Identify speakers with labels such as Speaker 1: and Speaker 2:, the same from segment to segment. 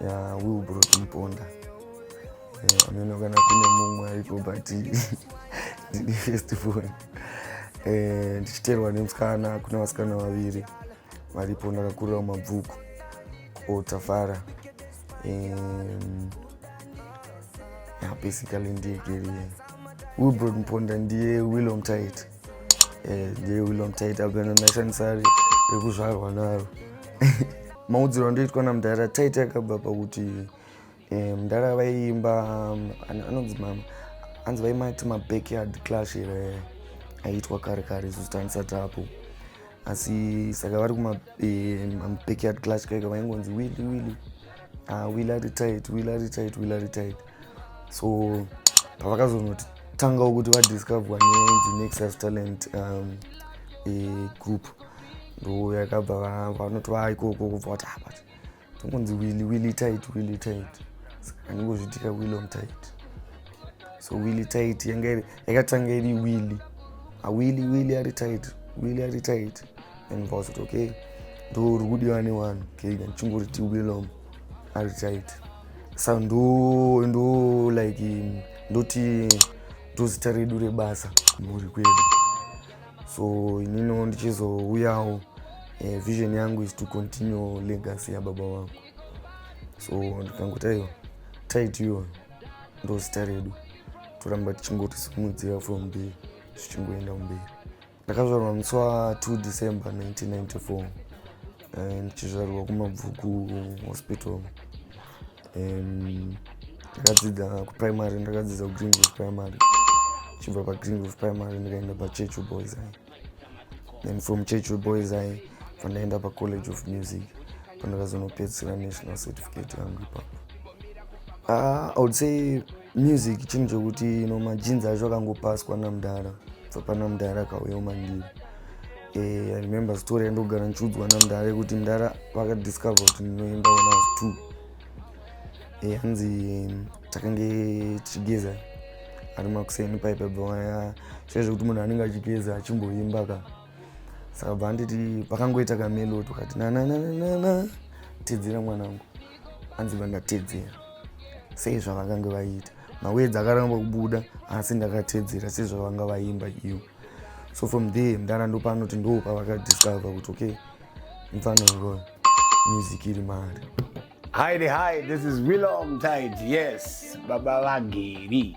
Speaker 1: ya will bro tinoponda eh, ameno kana kune mumwe ariko but ndine first born eh, ndichiterwa nemusikana kune vasikana vaviri varipo ndakakurira mabvuku otafara basically ndiye geriye will bro tinoponda ndiye willom tight rekuzvarwa naro maudziro andoitwa namudhara taita akabva pakuti eh, mudhara vaiimba um, anonzi mama anzi vaimati mabackyard clash here aiitwa kare kare isu zitanisati apo asi saka vari kumabackyard eh, clash kaika vaingonzi willi willi ah, willi ari tight willi ari tight willi ari tight so pavakazonotanga kuti vadiscoverwa nenzi nexus talent um, e, group ndo yakabva vanoti vaa ikoko kubva vati ah, but tongonzi willi willi tight willi tight saka ndingozvitika willi on tight so willi tight yanga yakatanga iri willi awilli ah, willi ari tight willi ari tight and vazoti okay ndorikudiwa newanhu kega ndichingoriti willom okay, hazvichaiti sa ndo ndo like ndoti ndozita redu rebasa mhuri kwedu so inino ndichizouyawo eh, vision yangu is to continue legacy yababa wangu so ndikangotaiwa taitiwo ndozita redu toramba tichingotisimudzira from there zvichingoenda kumberi ndakazvarwa musi wa 2 december 1994 eh, ndichizvarirwa kumabvuku hospital ndakadzidza kuprimary ndakadzidza kugreenville primary chibva pagreenville primary ndikaenda pachurchill boys high then from churchill boys high pandaenda pacollege of music pandakazonopedzisira national certificate yangu ipapo ah, i would say Music chinhu chokuti no majinzi acho akangopaswa namdara bva pana mdara akauya umandiri eh, i remember story yandogara ndichiudzwa namdara yekuti mdara vakadiscover kuti ndinoimba when i was two eh, hanzi takange tichigeza ari makuseni paipa bvaya sai zvekuti munhu anenge achigeza achimboimba ka saka bva anditi pakangoita kamelodi ukati nanananana tedzera mwanangu hanzi vandatedzera sei zvavakange vaita mawedzi akaramba kubuda asi ndakatedzera sei zvavanga vaimba ivo so from there mdana ndopano kuti ndopa vakadiscover kuti okay mfana uroyo music iri mari hi hi
Speaker 2: this is willom tide yes baba vageri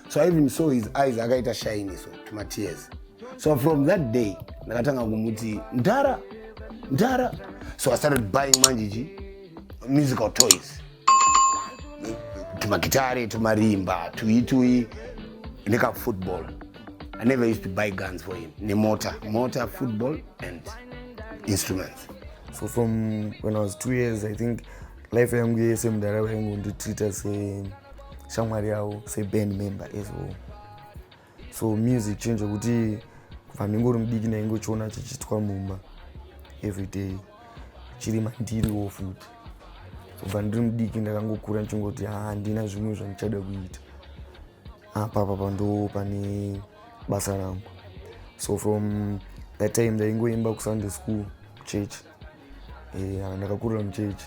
Speaker 2: so i even saw his eyes akaita shine so matears so from that day ndakatanga kumuti mdhara mdhara so i started buying manje chi musical toys tumagitare tumarimba tui tui nekafootball i never used to buy guns for him nemota mota football and instruments so from
Speaker 1: when i was two years i think life yangu yese mudara vaingu nditreata seshamwari yavo seband member as well so music chinhu chekuti kubva ndingori mudiki ndaingochiona chichiitwa mumba everyday chiri mandiriwo futi kubva ndiri mudiki ndakangokura ndichingoti handina zvimwe zvandichada kuita apapa pandoo pane basa rangu so from that time ndaingoimba kusunday school church ndakakurira muchechi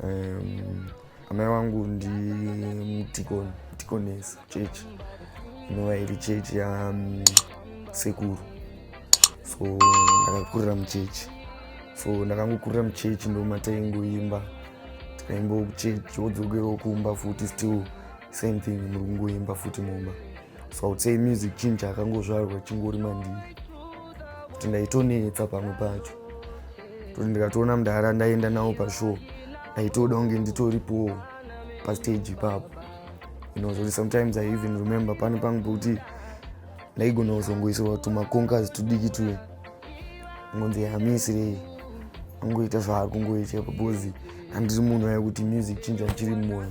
Speaker 1: um, amai wangu ndimudhikoni dhikonesi chechi inova iri chechi yasekuru so ndakakurira muchechi so ndakangokurira muchechi ndomataingoimba tikaimba kuchechi wodzokerawo kumba futi still same thing muri kungoimba futi mumba so would say music chinhu chakangozvarwa chingori mandii kuti ndaitonetsa pamwe pacho toti ndikatoona mudhara ndaienda nawo pashow ndaitoda kunge nditoripowo pastage ipapo inozoti sometimes i even remember pani pangu pokuti ndaigona kuzongoisirwa tumaconkers tudiki tuye ngonzi hamisirei angoita zvaari kungoita because handiri munhu aye kuti music chinja chiri mumoyo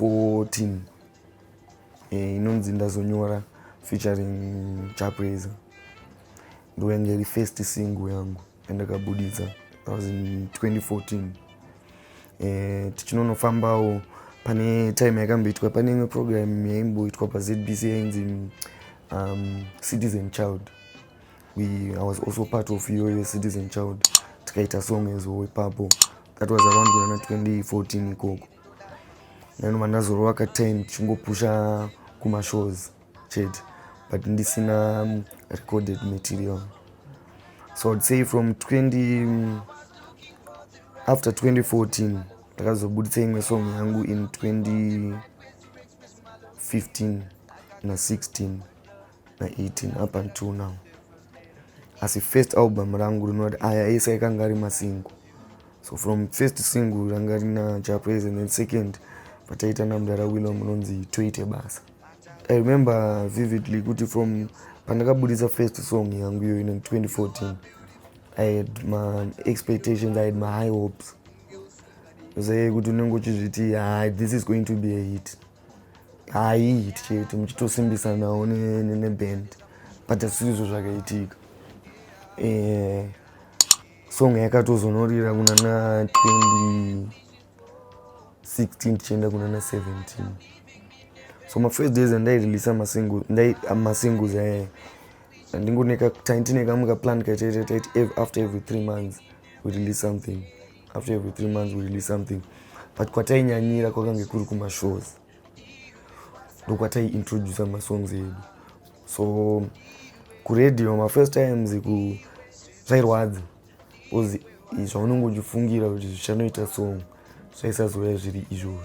Speaker 1: 14 eh, inonzi ndazonyora featuring chapreza ndoyanga iri first single yangu yandakabuditsa that was in 2014 eh, tichinonofambawo pane time yakamboitwa pane imwe program yaimboitwa pazbc yainzi um, citizen child we i was also part of iyoyo citizen child tikaita song ezo ipapo that was around kunana 2014 ikoko nanova ndazorova ka time tichingopusha kumashows chete but ndisina um, recorded material so i'd say from 20 um, after 2014 ndakazobuditsa imwe song yangu in 2015 na 16 na 18 up until now asi first album rangu rinoti aya ese aikanga ari masingo so from first single ranga rina japres and then second pataita namdara willom rinonzi toite basa i remember vividly kuti from pandakabudisa first song yangu iyoyo in 2014 i had my expectations i had my high hopes zvaye kuti unenge uchizviti hi this is going to be a hit haii tichiti muchitosimbisa nawo neband but asizvo zvakaitika eh, song yakatozonorira kuna na 2016 tichienda kuna na 17 so mafirst days andairelisa masingles ayayo ndingoneka taiti nekamwe kaplan kaitaita taiti after every three months we release something after every three months we release something but kwatainyanyira kwakange kuri kumashows ndokwataiintroducer masongs edu so kuradio mafirst times ku zvairwadza bcause zvaunenge uchifungira kuti zvichanoita song zvaisazouya zviri izvozvo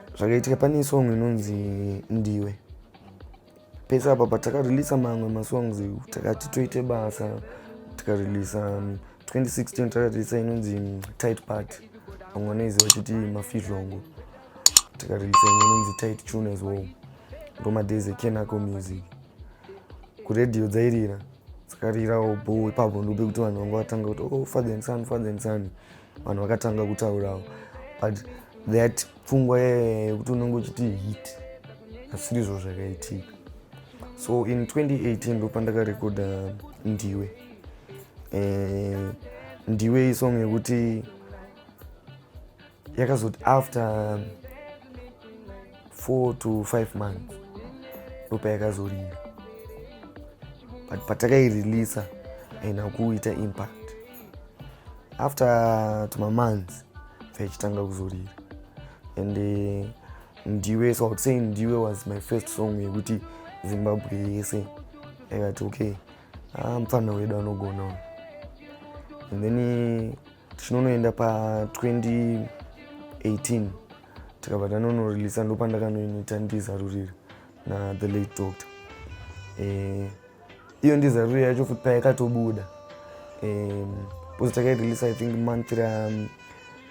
Speaker 1: zvakaitika pane song inonzi ndiwe pese apa patakarelisa mamwe masongs takati toite basa tikarelisa 2016 um, takarelisa inonzi um, tight part vamwe vanoiziva chiti mafidlongo tikarelisa imwe inonzi tight tune as well ndomadays ekenaco music kuredio dzairira dzakarirawo bo ipapo ndope kuti vanhu vanga vatanga kuti o oh, father and son father and son vanhu vakatanga kutaurawo but that pfungwa yekuti unenge uchiti hit asirizvo zvakaitika so in 2018 ndopandakarekoda ndiwe eh, ndiwe isong yekuti yakazoti after four to five months ndopayakazorira but patakaireleasa haina kuita impact after tuma months vachitanga kuzorira and uh, ndiwe so iwould say ndiwe was my first song yekuti zimbabwe yese yakati okay ah, mupfanha wedu anogona and then eh, tichinonoenda pa 2018 tikabva tanonorelisa ndopandakanoinoita ndizarurira na the late doctor eh, iyo ndizariro yacho futi payakatobuda eh, bcause takairelease i think month ra um,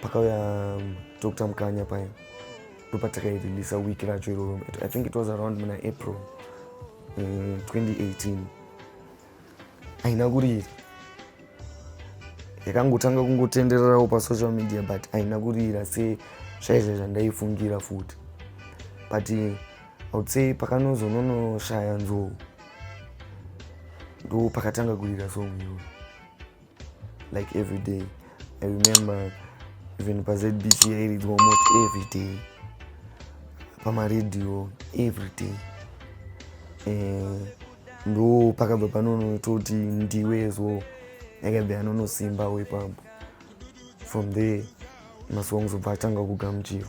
Speaker 1: pakauya um, doctor mukanya paya ndopatakaireleasa week racho iroro i think it was around muna april 2018 eh, haina kurira yakangotanga kungotendererawo pasocial media but haina kurira se zvaizve zvandaifungira futi but iwould say pakanozononoshaya nzou ndo pakatanga kurira song iyoyo like every day i remember even pazbc yairidzwa almost every day pamaradio every day eh, ndo pakabva panono toti ndiwe so yakabva yanonosimba wepapo from there masongs obva atanga kugamuchirwa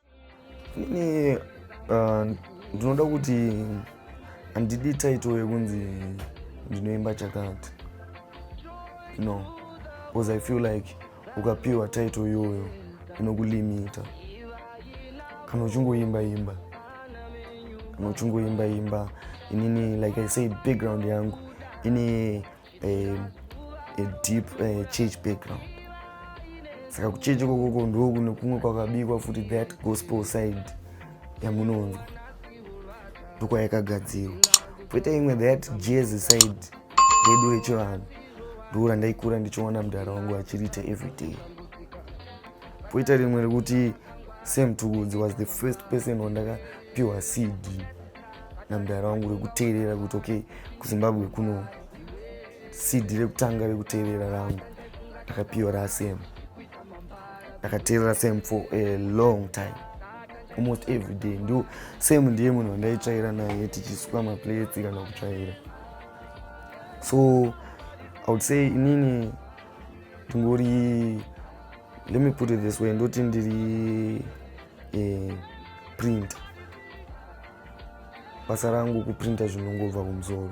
Speaker 3: ini
Speaker 1: uh, ndinoda kuti handidi title yekunzi ndinoimba chakati no because i feel like ukapiwa title iyoyo inokulimita kana uchingoimba imba kana uchingoimba imba inini like i said background yangu ini um, a deep uh, church background saka kuchechi kokoko ndoo kune kumwe kwakabikwa futi that gospel side yamunonzwa ndokwayakagadzirwa poita imwe that jezi side redu rechivanhu ndoo randaikura ndichiona mudhara wangu achiriita everyday poita rimwe rekuti sam tukudzi was the first person wandakapiwa cd namdara wangu rekuteerera kuti okay kuzimbabwe kuno cd rekutanga rekuteerera rangu ndakapiwa rasem ndakateerera same for a long time almost every day ndo same ndiye munhu wandaitsvaira naye tichisuka maplates kana kutsvaira so i would say inini ndingori let me put it this way ndoti ndiri e, printer basa rangu kuprinta zvinongobva kumusoro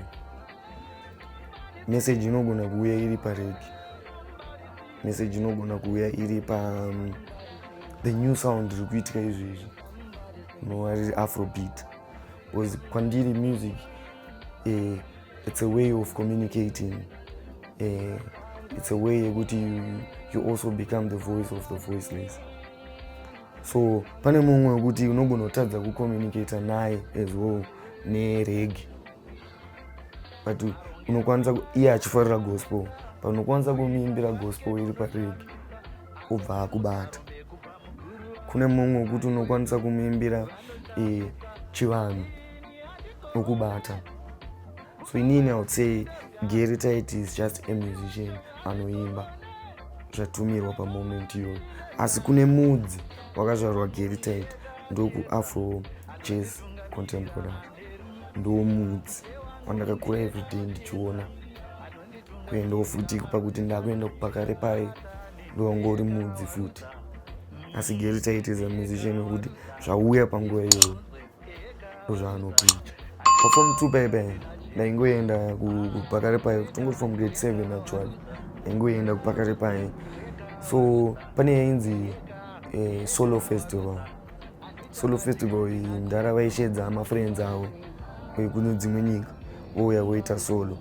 Speaker 1: meseji inogona kuuya iri paregi meseji inogona kuuya iri pa um, the new sound riri kuitika izvezvi inova riri afrobeat bcause kwandiri music uh, it's a way of communicating uh, it's a way yekuti you, you also become the voice of the voiceless so pane mumwe wekuti unogona kutadza kucommunicator naye as well neregi but unokwanisa iye achifarira gospel but unokwanisa kumuimbira gospel iri paregi obva akubata kune mumwe wekuti unokwanisa kumuimbira e, chivanhu okubata so inini i would say gary tit is just a musician anoimba zvatumirwa pamoment iyoyo asi kune mudzi wakazvarwa gary tit ndokuafro jazz contemporary ndiwo mudzi wandakakura everyday ndichiona kuendawo futi pakuti ndakuenda pakare paye ndowangori mudzi futi asi gary tit is a musician wekuti zvauya panguva iyoyo zvaanopi pafom two paye paye ndaingoenda kupakare paye tongoti from grade seven actually ndaingoenda kupakare paye so pane yainzi eh, solo festival solo festival iyi mdhara vaishedza mafriends avo kune dzimwe nyika vouya voita solo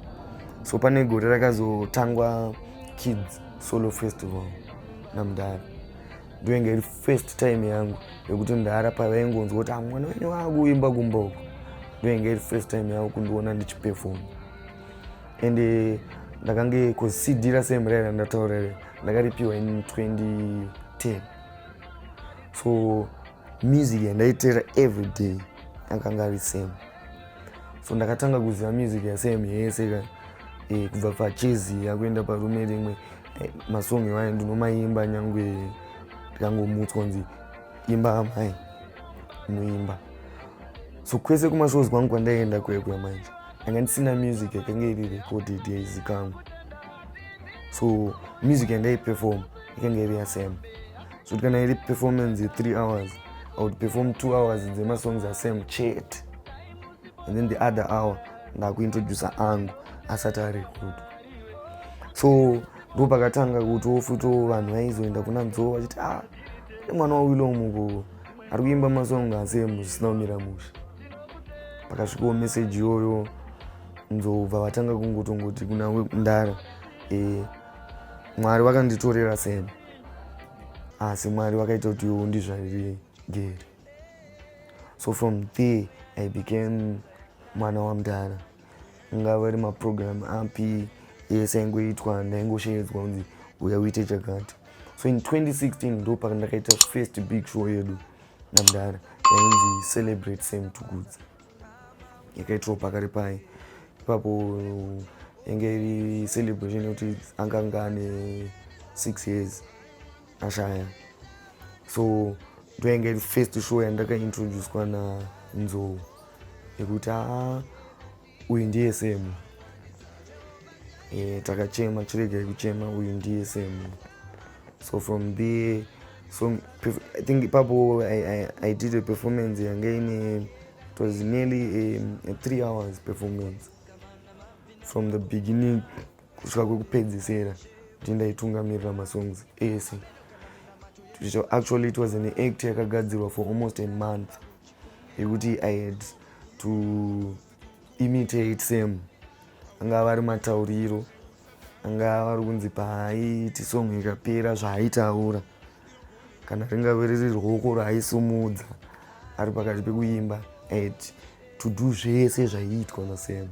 Speaker 1: so pane gore rakazotangwa kids solo festival namdhara ndoinge iri first time yangu yekuti ndara pavaingonzwa kuti amwana ah, wenyu waakuimba kumba uko ndoinge iri first time yangu kundiona ndichipefoma and eh, ndakange cd rasem rai randataura re ndakaripiwa in 2010 so music yandaiteera every day akanga ari same so ndakatanga kuziva music yasem yese ka e, kubva pachezi yakuenda parume rimwe Eh, masong iwayo ndinomaimba nyangwe ndikangomutswa kunzi imba amai muimba so kwese kumashows kwangu kwandaienda kwekuya manje anga ndisina music yakange iri recorded yaizikanwa so music yandaiperform ikange iri yasam so kana iri performance ye3 hours i would perform two hours dzemasongs asam chete and then the other hour ndakuintroducer angu asati arekodwa so ndo pakatanga kuti wofuto vanhu vaizoenda kuna nzoo vachiti a ah, nemwana wawilo mukuko ari kuimba masong asemu zvisina kumira musha pakasvikawo meseji iyoyo nzobva vatanga kungotongoti kuna wekundara e, mwari vakanditorera sema asi mwari vakaita kuti iwo ndizvariri gere so from there i became mwana wamdara Ngava ari maprogram api ese aingoitwa ndaingoshedzwa kunzi uya uite chakati. So in 2016 ndo pandakaita first big show yedu namdara yainzi Celebrate Same to Goods. Yakaitirwa pakari paye. Ipapo yange iri celebration yekuti anganga ane 6 years. ashaya so ndoinge first show yandakaintroducwa nanzou yekuti aa uyu ndiye semu e, takachema chiregai kuchema uyu ndiye semu so from there so i think ipapo I, I, i did a performance yange ine it was nearly a, a three hours performance from the beginning kusvika kwekupedzisera kuti ndaitungamirira masongs ese so actually it was an act yakagadzirwa for almost a month yekuti i had to imitate sam angava vari matauriro angava vari kunzi paaiti song ikapera zvaaitaura kana ringave riri rwoko raaisumudza ari pakati pekuimba at to do zvese zvaiitwa nasam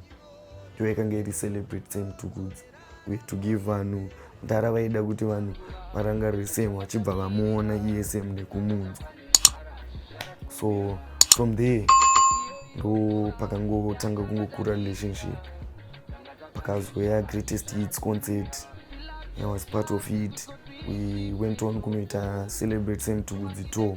Speaker 1: ndiyo yakange iri celebrate same two goods uye to give vanhu mdara vaida kuti vanhu varangarire same vachibva vamuona iye same nekumunzwa so from there ndo pakangotanga kungokura relationship pakazoya greatest hits concert i was part of it we went on kunoita celebrate same two goods tour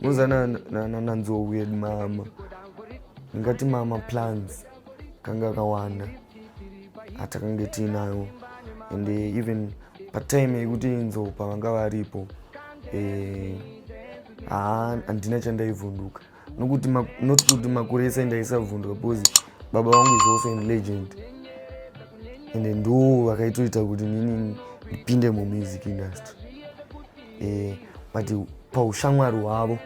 Speaker 1: Muza na na na nanzo weird mama. Ngati mama plans kanga kawanda. Hata kange tinayo. And eh, even pa time yekuti inzo pavanga varipo. Eh ah andina chandaivunduka. nokuti not kuti makore ese ndaisabvundwa because baba vangu is also in legend and ndo vakaitoita kuti nini ndipinde mumusic industry eh, but paushamwari hwavo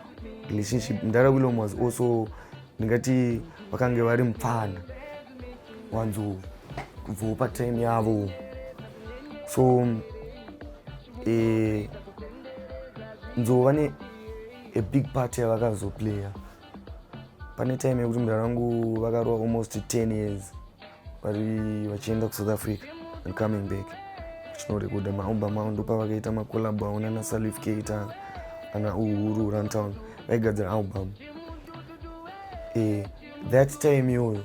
Speaker 1: relationship mdara willom was also ndingati vakange vari mupfana wanzo kubvawo patime yavo so eh, nzova ne a big part yavakazoplayer pane time yekuti mudara wangu vakarova almost 10 years vari vachienda kusouth africa and coming back chinorekoda maumba mao ndopavakaita macolab avo nana salif keita ana uhuru runtown vaigadzira album e, that time iyoyo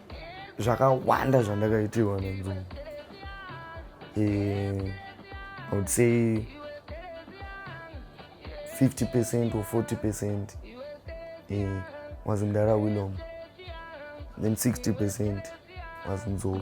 Speaker 1: zvakawanda zvandakaitirwa nenzungu eh, i would say 50 percent or 40 percent eh, was mdara willom then 60 percent was nzou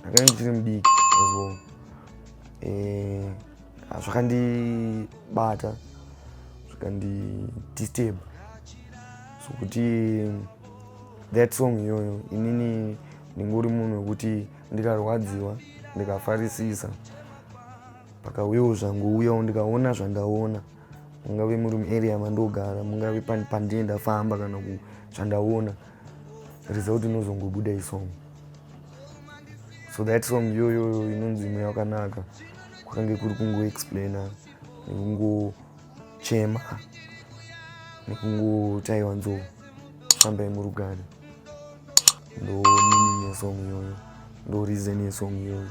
Speaker 1: ndakanga ndichiri mudiki as well eh, zvakandibata zvakandidisturb so kuti that song iyoyo inini ndingori munhu wekuti ndikarwadziwa ndikafarisisa pakauyawo zvangouyawo ndikaona zvandaona mungave muri muarea mandogara mungave pandie ndafamba kana zvandaona result inozongobuda isong so that song iyoyo inonzi mweya wakanaka kwakange kuri kungoexplaina nekungochema nekungotaiwa nzou fambai murugare ndo meaning yesong iyoyo ndo reason yesong iyoyo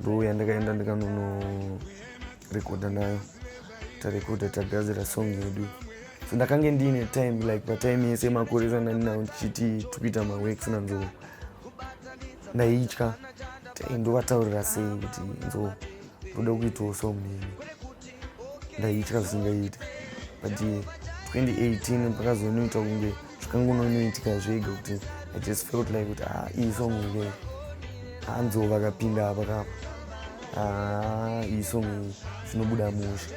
Speaker 1: ndouya ndakaenda ndikanonorekodha nayo tarekodha tagazira song yedu so ndakange ndiine time like patime yese makore esandandinawo ndichiti tikuita maworks nanzoo ndaitya ndovataurira sei kuti nzoo ndoda kuitawo song neni ndaitya zvisingaite but 2018 pakazonoita kunge zvakangononoitika zvega kuti i just felt like kuti ah, iyi song ike hanzo vakapinda apa kapa ah, iyi song iyi zvinobuda musha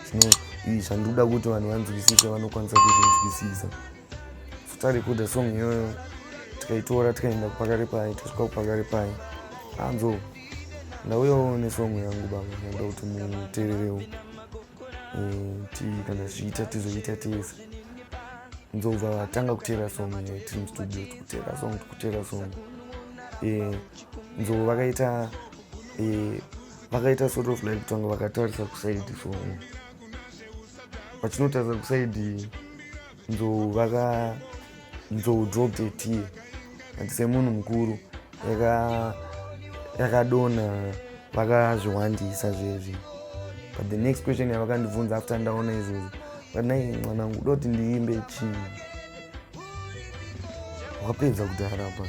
Speaker 1: zvino iyi zvandikuda kuti vanhu vanzwisise vanokwanisa kuzvinzwisisa so tarekoda song iyoyo tikaitora tikaenda kupakare paye tosvika kupakare paye hanzo ndauyawo nesong yangu baba ndoda kuti mutererewo eh, kana zviita tizoita tese nzobva vatanga kutera song eh, tiri mustudio tikutera song tikutera song eh, nzobva vakaita vakaita sort of like kutanga vakatarisa kusaidi song vachinotarisa kusaidi nzou vaka nzou dropped a tear and semunhu mukuru yakadona yaka vakazviwandisa zvezvi but the next question yavakandibvunza after ndaona izvozvo vanai mwanangu doti ndiimbe chii wakapedza kudhara pa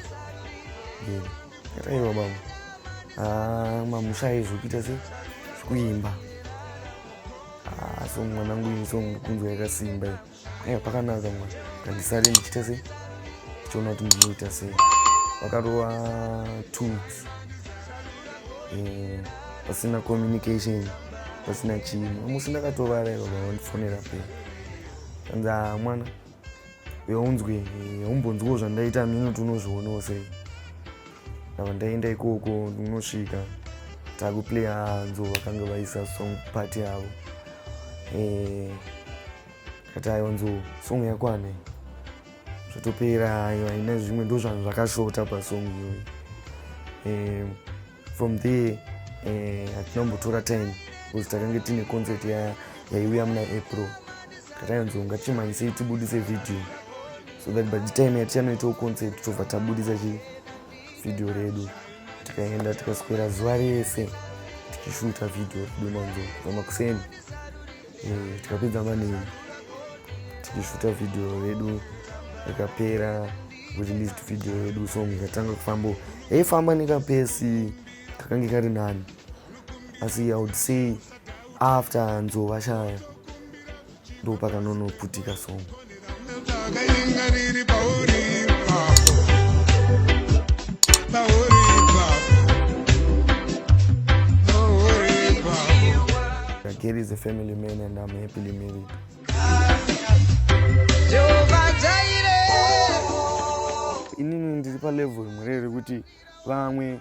Speaker 1: kataiwa baba ah, mamusha aizvokuita se zvikuimba so mwanangu ini so kunzwa yakasimba iyo aya pakanaka mwana kandisare ndichita sei ndichiona kuti ndinoita sei vakarova tools eh, pasina communication pasina chii amusi ndakatovara ivo vaondifonera pe kanza mwana yaunzwe yaumbonzwawo zvandaita mino tunozvionawo sei ndava ndaenda ikoko ndinosvika takuplaya hanzo vakange vaisa song pati yavo eh, kati ayo nzo song yakwane zvotopera ayo haina zvimwe ndo zvanhu zvakashota pasong iyoyi eh, from there eh, hatinombotora time because takange tine concert yaiuya muna april takanzi unga chimanyisei tibudise video so that by the time yatichanoitawo concert tobva tabudisa chi video redu tikaenda tikaswera zuva rese tichishuta video redu manzo vamakuseni mm, tikapedza mani tichishuta vhidhiyo yedu ikapera kureleased video yedu so ikatanga kufamba hey famba nekapesi kakange kari nani asi i would say after nzovashaya ndopakanonoputika song Gary is a family man and I'm happily married. Inini ndiri palevel imwe rekuti vamwe